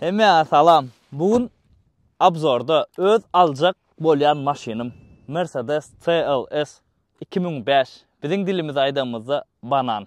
Hemmäňe salam. Bu gün obzorda öz aljak bolýan maşynym Mercedes CLS iki müň bäş, biziň dilimizde aýdanymyzda banan.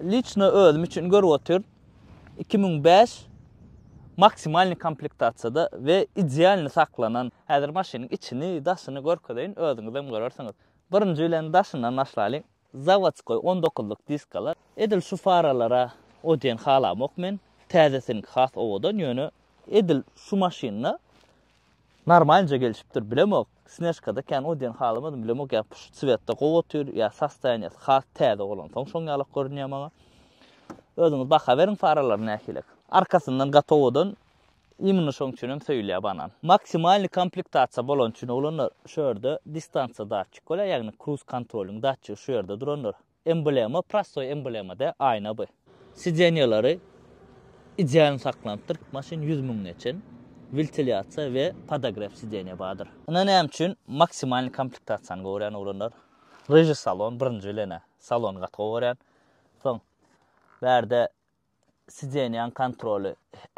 Liçno özüm üçin görüp otyryn iki müň bäş maksimalny komplektasiýada we idealny saklanan häzir maşynyň içini daşyny görkezeýin özüňizem görersiňiz birinji bilen daşyndan başlalyň zawodskoý on dokuzlyk diskalar edil şu faralara o diýen halamok men täzesiniňki has owadan ýöne edil şu maşynda Normalnja gelişipdir bilemok, snežkada kän o diýen halamadym bilemok ýa puşt swetda gowy otyr ýa sostoýaniýasy has täze bolansoň şoň ýalak görünýär maňa. Özüňiz baha beriň faralary nähilek. Arkasyndan gatowadan imini şoň üçin hem söýülýär banan. Maksimalny komplektasiýa bolan üçin oglanlar şu ýerde distansiýa datçik bolýar ýagny kruz kontrolyň datçigi şu ýerde durandyr. Emblema prostoý emblema dä aýna by. Sideniýalary idealny saklanypdyr. Maşyn ýüz müň geçen. Wiltiliasiýa we podagref sideniýa bardyr. Ine näme üçin maksimalny komplektasiýany gorýän oglanlar. Ryžy salon birinji bilenä salony gaty gowy görýän. Soň bärde Sideniýaň kontroly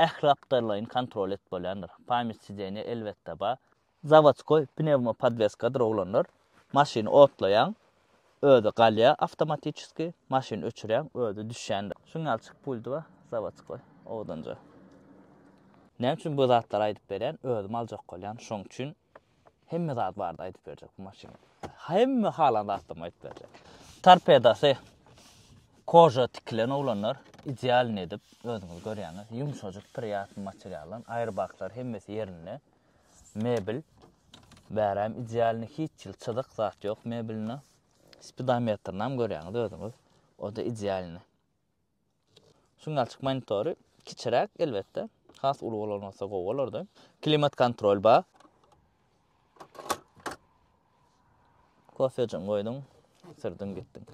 ähliaptarlaýyn kontrol edip bolýandyr. Pamýat sideniýa elbetde ba. Zawodskoý pnewmopodweskadyr oglanlar. Maşyny otlaýaň, özi galýa awtomatiçeski, maşyny öçürýäň, özi düşýändir. Şuň ýaly çyk puldy ba, zawodskoý, owadanja. Näme üçin bu zatlary aýdyp berýän, özüm aljak bolýan, şoň üçin. Hemme zat bardy aýdyp berjek bu maşyn. Hemme halan zatdan aýdyp berjek. Torpedasy koja tikilen oglanlar idealny edip özüňiz görýäňiz. Ýumşajyk priýatny materialdan aýrbaklar hemmesi ýerinde. Mebel bäräm idealny hiç ýyl çyzyk zat ýok mebelinde. Spidometrini hem görýäňiz özüňiz. O da idealny. Signalçyk monitory kiçiräk elbetde, has uly bolan bolsa gowy bolardy. Klimat kontrol bar. Kofejini goýduň, sürdiň gitdiň.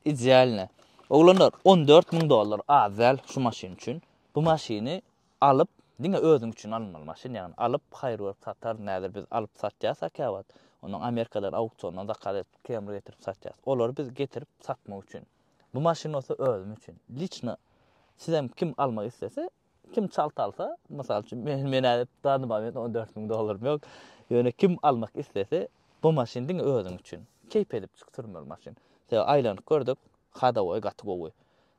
Idealne. Oglanlar 14 müň dollar az däl şu maşyn üçin. Bu maşyny alyp, diňe özüň üçin alynmaly maşyn ýagny alyp haýyr görüp satar näder biz alyp satýasa käwagt ondan Amerikadan auksiondan zakaz edip kemri getirip satýas. Olary biz getirip satmak üçin. Bu maşyn bolsa özüm üçin. Liçno sizem kim almak islese, kim çalt alsa, mysal üçin men men ädip dany moment 14 müň dollarym ýok. Ýöne kim almak islese, bu maşyn diňe özüň üçin. Keýp edip çyk sürmeli maşyn. Sebäbi aýlanyp gördük, hadowoý gaty gowy.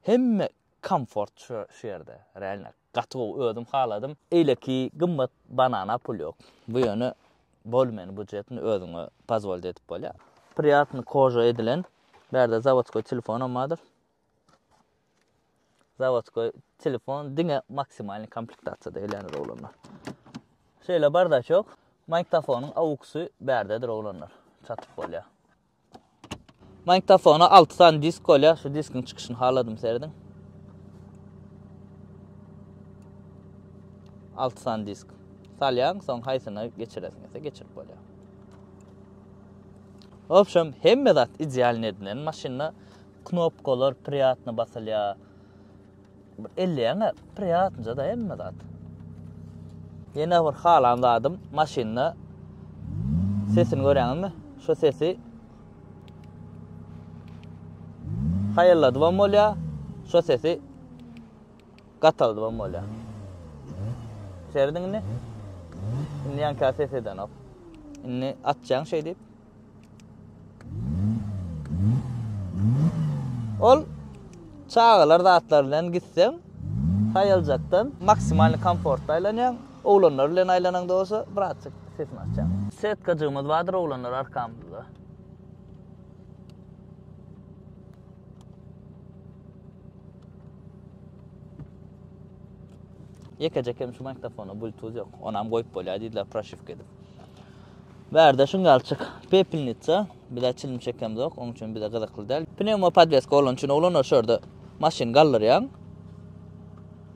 Hemme komfort şu şu ýerde, realno. Gaty gowy özüm haladym. Eýleki gymmat banana pul ýok. Bu ýöne bolmeny bujetni özüňe pozwolt edip bolýar. Priýatny koža edilen. Bärde zawodskoý telefonam bardyr. Zawodskoý telefon diňe maksimalny komplektasiýada gelýändir oglanlar. Şeýle bardaçok. Magnitofonyň auksy bärdedir oglanlar. Çatyp bolýar. Magnitofona alty sany disk bolýar. Şu diskiň çykyşyny haladym serediň. Alty sany disk. Salýaň, soň haýsyna geçiresiň ise geçirip bolýar. Obşem, hemme zat idealny edilen maşynda. Knopkalar priýatny basylýar. Bir elleýäňä priýatnyja-da hemme zat. Ýene bir halan zadym maşynda sesini görýäňizmi? Şu sesi haýalladybam bolýar, şu sesi gataldybam bolýar. Serediň indi. Indi ýanka ses edenok. Indi atjaň şeýdip. Ol çagalar zatlary bilen gitseň, haýaljakdan maksimalny komfortda aýlanýaň, oglanlar bilen aýlanaňda bolsa birazjyk sesini açýaň. Setkajygymyz bardyr oglanlar arkamyzda. Ýekeje kem şu magnitofona bluetooth ýok. Onam goýup bolýar diýdiler proşywka edip. Bärde şuň ýaly çyk. Pepelnitsa. Bizä çilim çekemzok, oň üçin bize gyzykly däl. Pnewma podweska bolany üçin oglanlar şu ýerde maşyny galdyrýaň.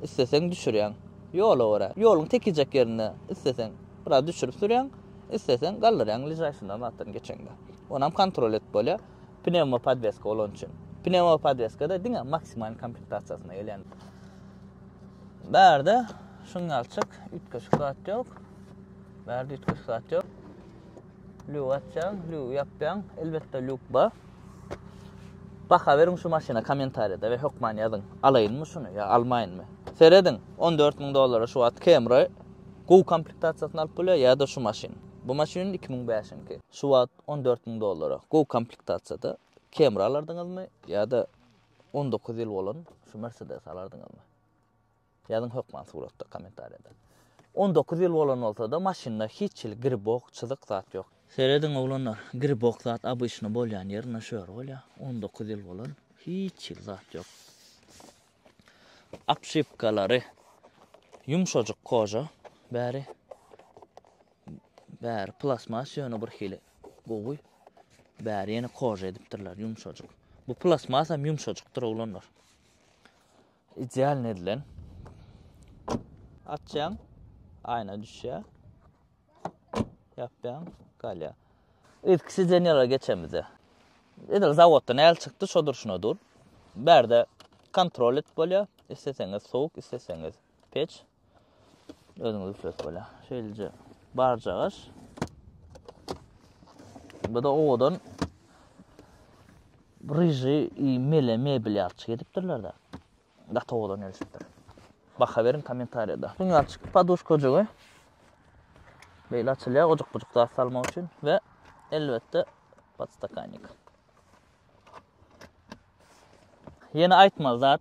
Isleseň düşürýäň. Ýola görä. Ýoluň tekijek ýerinde isleseň biraz düşürip sürýäň, isleseň galdyrýaň bližaýşyndan zatdan geçeňde. Onam kontrol edip bolýar. Pnewma podweska bolany üçin. Pnewma podweska-da diňe maksimal komplektasiýasynda gelýän. Bärde şuň ýaly çyk. Üýtgeşik zat ýok. Bärde üýtgeşik zat ýok. Lüw açýaň, lüw ýapýaň. Elbetde lüw bar. Baha beriň şu maşyna kommentariýada we hökman ýazyň. Alaýynmy şuny ýa almaýynmy? Serediň, 14 müň dollara şu wagt Camry gowy komplektasiýasyny alyp bolýar ýa-da şu maşyn. Bu maşyn 2005-nki. Şu wagt 14 müň dollara gowy komplektasiýada Camry alardyňyzmy ýa-da 19 ýyl bolan şu Mercedes alardyňyzmy? Ýazyň hökman suratda kommentariýada. On dokuz ýyl bolan bolsada maşynda hiç hili gribok çyzyk zat ýok. Serediň oglanlar gribok zat obyçny bolýan ýerinde şu ýer bolýa on dokuz ýyl bolan hiç hili zat ýok. Apşypkalary ýumşajyk koža bäri bäri plasmas ýöne bir hili gowy bäri ýene koža edipdirler ýumşajyk. Bu plasmas hem ýumşajykdyr oglanlar. Idealny edilen. Açýaň, aýna düşýär. Ýapýaň, galýar. Ilki sidenýalara geçemizde. Edil zawoddan äl çykdy, şo durşuna dur. Bärde kontrol et bolýar. Isleseňiz sowuk, isleseňiz peç. Özüňiz üflet bolýa. Şeýleje barjagaş. Bu da owadan ryji i mele mebel ýalçy gedipdirler da. Gaty owadan gelişipdir. Baha beriň kommentariýada. Şuň ýalçy paduşka ojagy. Beýle açylýa ojak bujak zat salmak üçin we elbetde podstakannik. Ýene aýtmaly zat.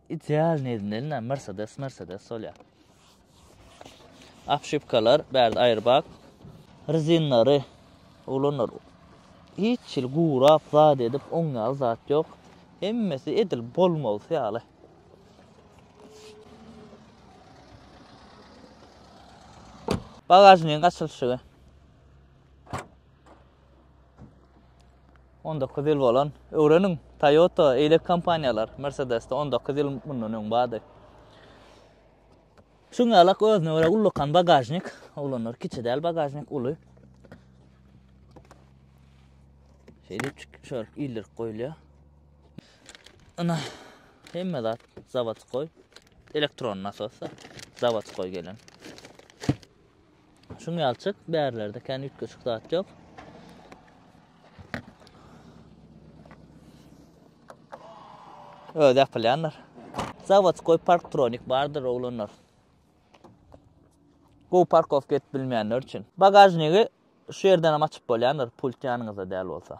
Idealny edinelina mersedes mersedes bolýa. Apşipkalar bärde aýrbak. Rezinlary oglanlar hiç hili gurap zat edip oň ýaly zat ýok. Hemmesi edil bolmalysy ýaly. Bagažnigiň açylyşygy. On dokuz ýyl bolan. Öwreniň, Toyota, eýlek kompaniýalar, Mercedes-de on dokuz ýyl mundan öň bardy. Çuňňalak özüne görä ullakan bagažnik, oglanlar kiçi däl bagažnik, uly. Şeýdipçik şöyle ildirip goýulýar. Ana, hemme zat zawodskoý, elektron nasos, zawodskoý gelen. Şuň ýalçyk bärlerde kän üýtgeşik zat ýok. Öz ýapylýanlar. Zawod goý parktronik bardyr oglanlar. Bu parkowka et bilmeýänler üçin. Bagažnigi şu ýerden hem açyp bolýandyr, pult ýanyňyzda däl bolsa.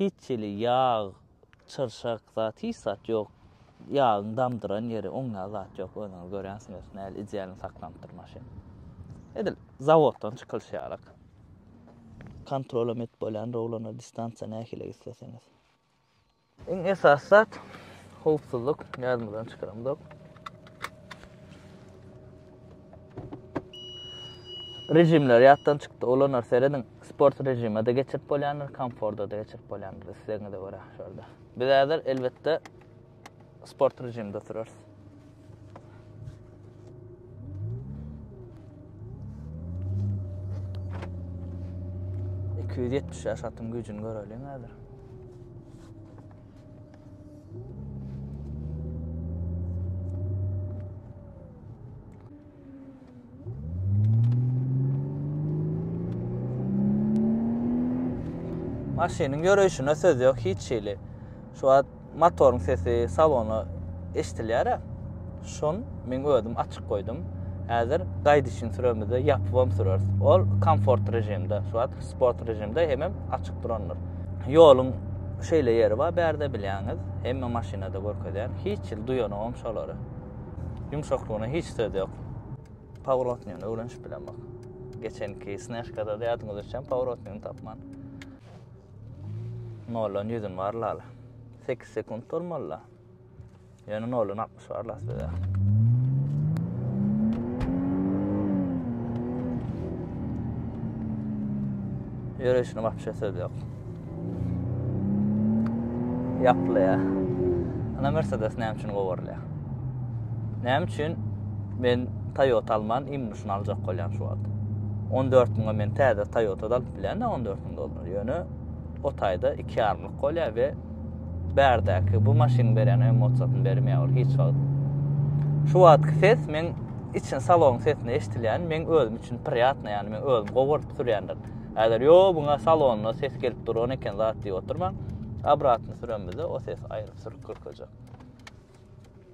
Hiç hili ýag, çyrşak zat, hiç zat ýok. Ýagyň damdyran ýeri, oňňa zat ýok. Özüňiz görýänsiňiz, näl idealny saklanypdyr maşyn. Edil zawoddan çykylyş ýalyk. Kontrolam edip bolýan rowlana distansiýa nähili isleseňiz. Iň esasy zat howpsuzlyk, ýadymyzdan çykaramzok. Rejimler ýatdan çykdy. Olanlar serediň. Sport rejimde geçirip bolýandyr, komfortda da geçirip bolýandyr. Islegiňize görä şurada. Biz häzir elbetde sport rejimde oturarys. Iki ýetmiş ýaş atyň güýjüni göreliň häzir. Maşynyň ýöreýşine söz ýok hiç hili. Şu wagt motoryň sesi salona eşidilýär. şon men özüm açyk goýdum häzir gaýdyşyn süremizde ýapybam süreris ol komfort režimde şu wagt sport režimde hemem açyk durandyr ýoluň şeýle ýeri bar bärde bilýäňiz hemme maşynada görkezýän hiç ýyl duýanogam şolary ýumşaklygyna hiç söz ýok pavrotnyny öwrenişip bilen bak geçenki snäşkada da ýadyňyz düşen pavrotnyny tapman noldan ýüzün bar lala sekiz sekunt bolmalyla Ýöne noly nakmyş bar las bede. Ýörüşini wapşe söz ýok. Ýaply ýa. Ana Mercedes näme üçin gowarlýa? Näme üçin men Toyota alman imnuşyny aljak bolýan şu wagt? 14 müňe men täze Toyota alyp bilýän 14 müň dollar. Ýöne o taýda 2 ýarymlyk bolýar we Bärdäki bu maşynyň berýän emosiýasyny bermeýär ol hiç wagt. Şu wagtky ses men içini salonyň sesini eşdilýän, men özüm üçin priýatna ýany men özüm gowy görüp sürýändir. Äder ýo buňa salonda ses gelip duran eken zat diýip oturmaň. Obratny sürenmizde o ses aýryp sürüp görkezjek.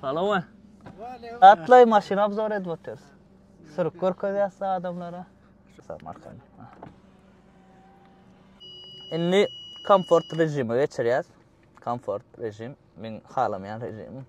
Salama. Atlaý maşyn obzor edip otyrys. Sürüp görkezýäs adamlara. Sag markany. Indi komfort rejimi geçirýäs. Komfort rejim, men halamaýan rejim.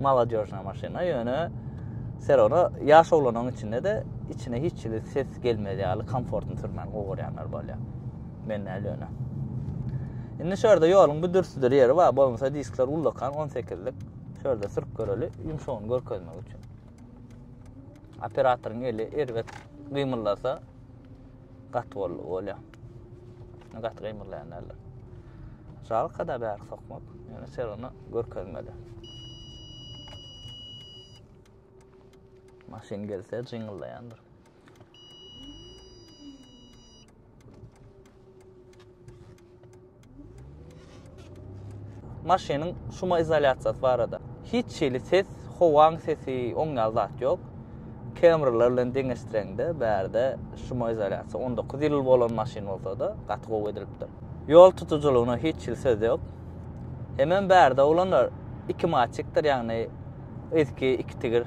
Maladýožna maşyna, ýöne Serona ýaş oglanyň içinde de içine hiç hili ses gelmez ýaly komfortny sürmäni gowy görýänler bolýar. Men näl ýöne. Indi şu ýerde ýoluň bu dürsüdir ýeri bar, bolmasa diskler ullakan 18-lik. Şu ýerde sürüp göreli, ýumşagyny görkezmek üçin. Operatoryň eli erbet gymyldasa, Gat bol bolýa. Gat gymyrlaýan däldir. Jalka da bäri sokmak. Ýöne ser onu görkezmedi. Maşyn gelse jyňyldaýandyr. maşynyň şuma izolýasiýasy barada. Hiç hili ses, howaň sesi, oň ýaly zat ýok. Camry-lar bilen deňeşdireňde, bärde şuma izolýasiýa 19 ýyl bolan maşyn bolsa-da, gaty gowy edilipdir. Ýol tutujylygyna hiç hili söz ýok. Hemem bärde oglanlar iki maçikdir, ýagny yzky iki tigir.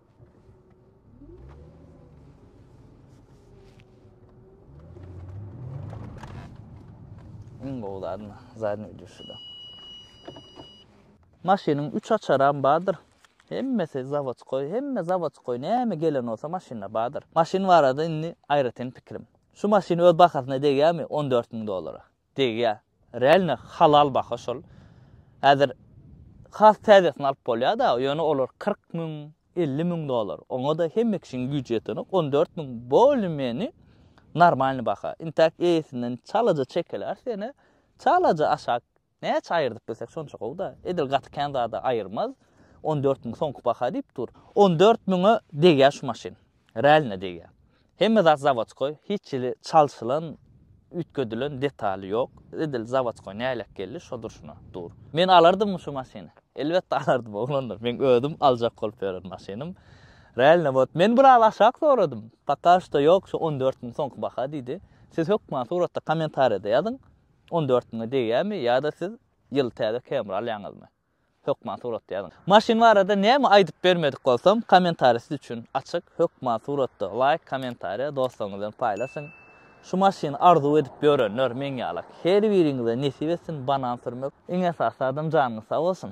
Iň gowy zadyny, zadyny ödüşüde. Maşynyň üç açaram bardyr. Hemmesi zawodskoý, hemme zawodskoý, näme gelen bolsa maşynda bardyr. Maşyn barada indi aýratyn pikirim. Şu maşyn öz bahasyna degýärmi? 14 müň dollara. Degýär. Realno halal baha şol. Häzir has täzesini alyp bolýar-da, ýöne olar kyrk müň, elli müň dollar. Oňa-da hemme kişiniň güýji ýetenok. On dört müň bolümeni normalny baha. Intäk eýesinden çalaja çekiläs ýene. Çalaja aşak näçe aýyrdyp bilsek şonça gowy-da. Edil gaty kän zada aýyrmaz. On dört müň soňky baha diýip dur. On dört müňe degýär şu maşyn. Realno degýär. Hemme zat zawodskoý, hiç hili çalşylan, üýtgedilen detaly ýok. Edil zawodskoý nälet geldi, şo durşuna dur. Men alardymmy şu maşyny? Elbetde alardym, oglanlar. Meň özüm aljak bolup ýören maşynym. Realno bot. Men biraz aşak soradym. Poka şto ýok, şu on dört müň soňky baha diýdi. Siz hökman suratda kommentariýada ýazyň, on dört müňe degýärmi ýa-da siz ýyly täze Camry alýaňyzmy? Hökman suratda ýazyň. Maşyn barada näme aýdyp bermedik bolsam kommentariý siz üçin açyk hökman suratda laýk kommentariý dostlaryňyz bilen paýlaşyň şu maşyny arzuw edip ýörenler meň ýalak her biriňize nesip etsin banan sürmek iň esasy zadam janyňyz sag bolsun.